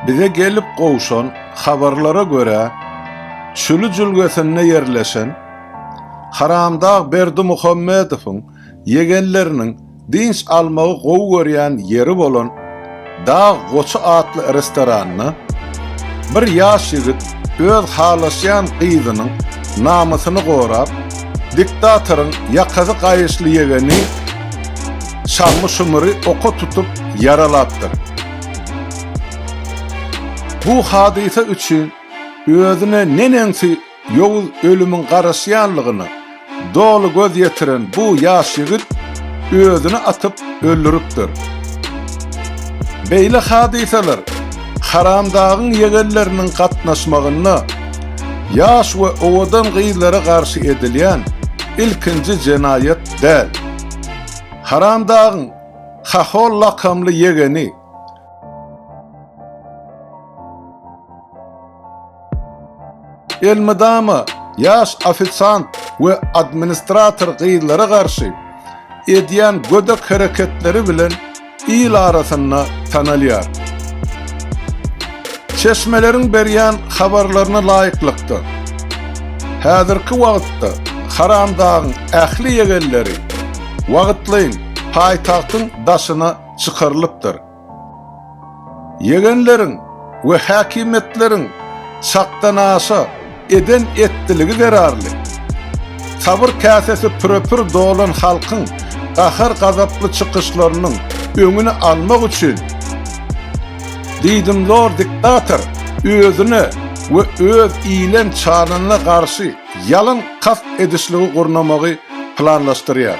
Bize gelip gowşan habarlara görä, Çüli jülgesinde ýerleşen Haramdag Berdimuhamedowyň ýegenleriniň dynç almagy gowy görýän ýeri bolan Dag goçy atly restoranda bir ýaş ýigit öz halaşýan gyzynyň namysyny gorap, diktatoryň ýakasy gaýyşly ýegeni Şammy-Şumyry oka tutup ýaralapdyr. Bu hadysa üçin özüne neneňsi ýowuz ölümiň garaşýanlygyna doly göz ýetiren bu ýaş ýigit özüni atyp öldüripdir. Beýle hadysalar Haramdagyň ýegenleriniň gatnaşmagynda ýaş we owadan gyzlara garşy edilýän ilkinji jenaýat däl. Haramdagyň Hahol lakamly ýegeni. Elmydama ýaş ofisant we administrator gyzlara garşy edýän gödek hereketleri bilen il arasynda tanalýar. Çeşmeleriň berýän habarlaryna laýyklykda, häzirki wagtda Haramdagyň ähli ýegenleri wagtlaýyn paýtagtyň daşyna çykarylypdyr. Ýegenleriň we häkimiýetleriň çakdanaşa eden etdiligi zerarly, sabyr käsesi püre-pür dolan halkyň gahar-gazaply çykyşlarynyň öňüni almak üçin, diýdimzor diktator özüne we öz iýlen çananyna garşy ýalyn kast edişligi gurnamagy planlaşdyrýar.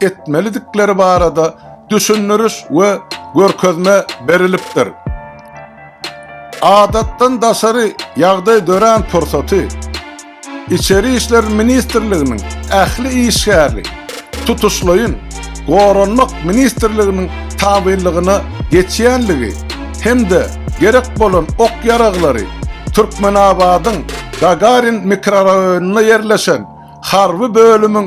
etmelidikleri barada düşündiriş we görkezme berilipdir. Adatdan daşary ýagdaý dörän pursaty Içeri işler ministrliginiň ähli işgäri tutuşlaýyn Goranmak ministrliginiň tabynlygyna geçýänligi hem-de gerek bolan ok-ýaraglary Türkmenabadyň Gagarin mikroraýonynda ýerleşen harby bölümiň